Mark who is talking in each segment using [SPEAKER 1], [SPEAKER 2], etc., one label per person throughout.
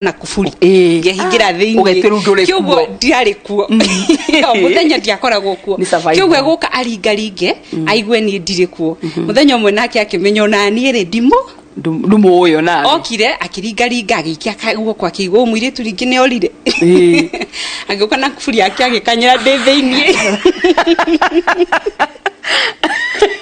[SPEAKER 1] na kuburi Ĩĩ. ngehingĩra thĩinĩ Ũgetia rĩu ndũrĩ Kĩoguo kuo. ndiarĩ kuo Ĩyo, mũthenya ndiakoragwo kuo Nĩ survival. kĩoguo egũka aringaringe aigue niĩ ndirĩ kuo mũthenya ũmwe nake akĩmenya ona niĩ rĩ ndimũ ndumũ ũyũ na okire akĩringaringa agĩikia ka- guoko akĩigua ũyũ mũirĩtu rĩngĩ nĩ orire Ĩĩ. agĩũka na kuburi yake agĩkanyĩra ndĩ thĩinĩ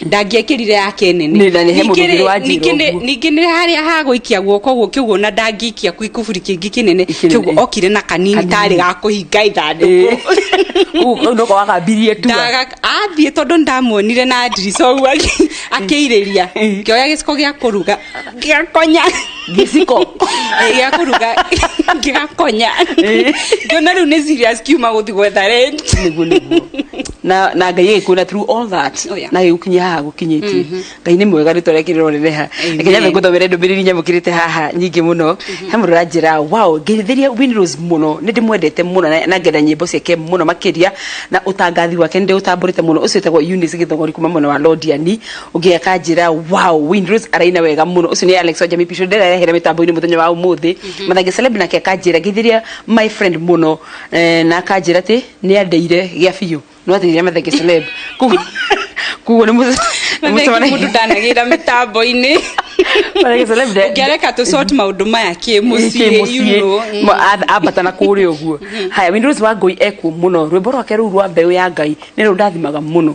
[SPEAKER 1] ndangĩekĩrire yake nene Nĩ, na nĩ he mũndũ Ningĩ-rĩ, ũngĩ wanjĩra ningĩ nĩ- ũguo. ningĩ nĩ harĩa hagũikia guoko ũguo kĩguo na ndangĩikia kwĩ kuburi kĩngĩ kĩnene Kĩnene, kĩguo eh. okire na kanini Kanini. tarĩ ga kũhinga ithandũkũ kau noko wakambirie tua Ndaga- athiĩ tondũ ndamuonire na ndirica ũguo akĩ- akĩirĩria kĩoya gĩciko gĩa kũruga gĩakonya gĩciko Eh, gĩa kũruga gĩakonya Eh. ngĩona rĩu nĩ serious kiuma gũthi gwetha rent nĩguo nĩguo na na ngai agĩkuona through all that Oh, yeah. na gĩgũkinya haha gũkinyĩtie ngai nĩ mwega rĩtwa rĩake rĩrorere ha Amen. reke nyambe ngũthomere ndũmĩrĩri nyamũkĩrĩte haha nyingĩ mũno he mũndũ ũranjĩra wow ngeithĩria winros mũno nĩ ndĩmwendete mũno na- na ngenda nyĩmbo ciake mũno makĩria na ũtangathi wake nĩ ndĩũtambũrĩte mũno ũcio wĩtagwo Eunice gĩthogori kuma mwena wa londiani ũngĩ akanjĩra wow Windrose araina wega mũno ũcio nĩ Alex wa Jamii Pisho ndĩrarehera mĩtambo-inĩ mũthenya wa ũmũthĩ mathange celeb nake akanjĩra ngĩthiria my friend mũno eh, na akanjĩra atĩ nĩ andeire gĩa biũ no athirire mathange celeb Kugu- kuguo nĩ mũce- nĩ mũndũ mũcemanagia ndanagĩra mĩtambo-inĩ mathange celeb nde- ngĩareka tũ sort maũndũ maya kĩ mũciĩ you know. Mm. ambata na kũrĩa ũguo haya Windrose wa ngũi ekuo mũno rwĩmbo rwake rũu rwa mbeũ ya ngai nĩ rũndathimaga mũno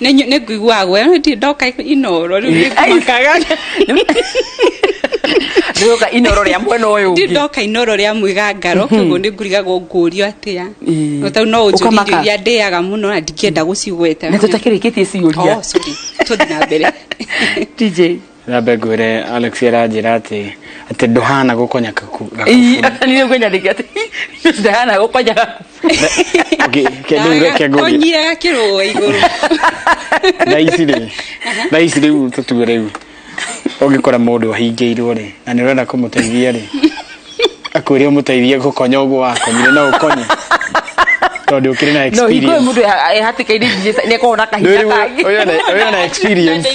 [SPEAKER 1] Nenyu- nĩ ngũiguaga guoya no ndirĩ ndoka inoro rĩu nĩ ngũmakaga ndĩroka inoro rĩa mwena ũyũ ndirĩ ũngĩ ndoka inoro rĩa mwĩgangaro koguo nĩ ngurigagwo ngũrio atĩa Ĩĩ. no tau no ũnjũrie Ũkamaka. irio iria ndĩaga mũno na ndingĩenda gũcigweta na tũtakĩrĩkĩtie ciũria Oh, sorry. tũthi na mbere TJ Nyambe ngwĩre Alex aranjĩra atĩ atĩ ndũhana gũkonya kaku- Ii, gakubu. niĩ nĩguo nyandĩke atĩ ndahana gũkonyaga Okay, kĩndũ reke ngũrie. konyiraga kĩrũa igũrũ Thaa ici rĩ thaa ici rĩu tũtue rĩu ũngĩkora mũndũ ahingĩirwo rĩ na nĩ ũrenda kũmũteithia rĩ akwĩre ũmũteithie gũkonya ũguo wakonyire no ũkonye tondũ ũkĩrĩ na no hingo ĩyo mũndũ ehatĩkaire nĩ akoragwo na kahinda kangĩ ũyũ na experience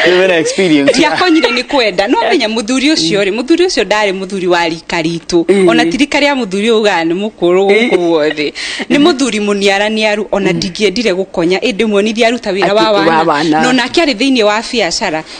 [SPEAKER 1] Wewe na experience. ndiakonyire nĩ kwenda no menya mũthuri ũcio rĩ mũthuri ũcio ndarĩ mũthuri wa rika ritũ ona ti rika rĩa mũthuri ũyũ ugaga nĩ mũkũrũ gũkũ guothe nĩ mũthuri mũniaraniaru ona ndingĩendire gũkonya ĩndĩ muonirie aruta wĩra wa Akĩ- wa wana wana. na onake arĩ thĩinĩ wa biacara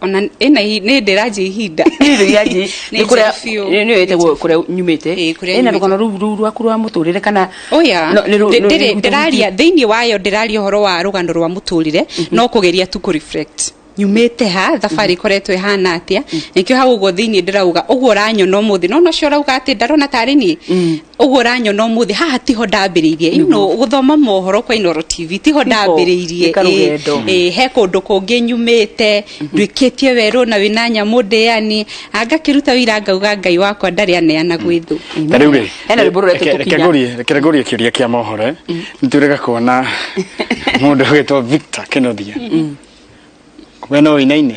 [SPEAKER 1] ona ĩna i- nĩ ndĩranjia ihinda Nĩ njega biũ. kũrĩa nyumĩte Ĩĩ, kũrĩa ĩna nyumĩte. rũgano rũu rũu rwaku rwa mũtũrĩre kana oya no- nĩ rũ- nĩ- nĩ- ndĩraria thĩinĩ wayo ndĩraria ũhoro wa rũgano rwa mũtũrĩre no kũgeria tu kũreflect nyumĩte ha thabarĩ ikoretwo ĩhana atĩa nĩkĩo hau ũguo thĩinĩ ndĩrauga ũguo ũranyona ũmũthĩ no nocio ũrauga atĩ ndarona tarĩ niĩ ũguo ũranyona ũmũthĩ haha tiho ndambĩrĩirie you know, gũthoma mohoro kwa inoro tv tiho ndambĩrĩirie nĩ karũgendo. Ĩ, ĩ, he kũndũ kũngĩ nyumĩte nduĩkĩtie werũ na wĩna nyamũ ndĩani angakĩruta wĩira ngauga ngai wakwa ndarĩ aneana gwĩ thũ na rĩu rĩ Hena rwĩmbo rũretwo reke- reke Tũkinya. ngũrie- reke ngũrie kĩũria kĩa mohoro nĩtũrega kuona mũndũ wĩtwo victor kenothia we no ũinaine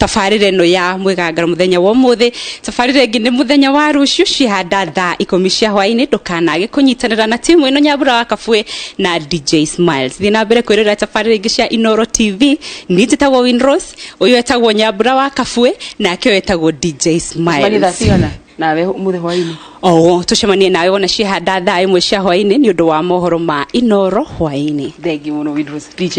[SPEAKER 1] tabarĩra ĩno ya mwĩgangaro mũthenya wa ũmũthĩ tabarĩra ĩngĩ nĩ mũthenya wa rũciũ cihanda thaa ikũmi cia hwaĩ-inĩ ndũkanage kũnyitanĩra na timu ĩno nyambura wa kabuĩ na dj smiles thiĩ na mbere kwĩrorera tabarĩra ingĩ cia inoro tv niĩ njĩtagwo winros ũyũ etagwo nyambura wa kabuĩ nake ũyũ etagwo dj Mani smiles thaa cigana nawe mũthĩ hwainĩ oo tũcemanie nawe wona cihanda thaa ĩmwe cia hwaĩ-inĩ nĩ ũndũ wa mohoro ma inoro hwaĩ-inĩ thengi mũno Windrose. dj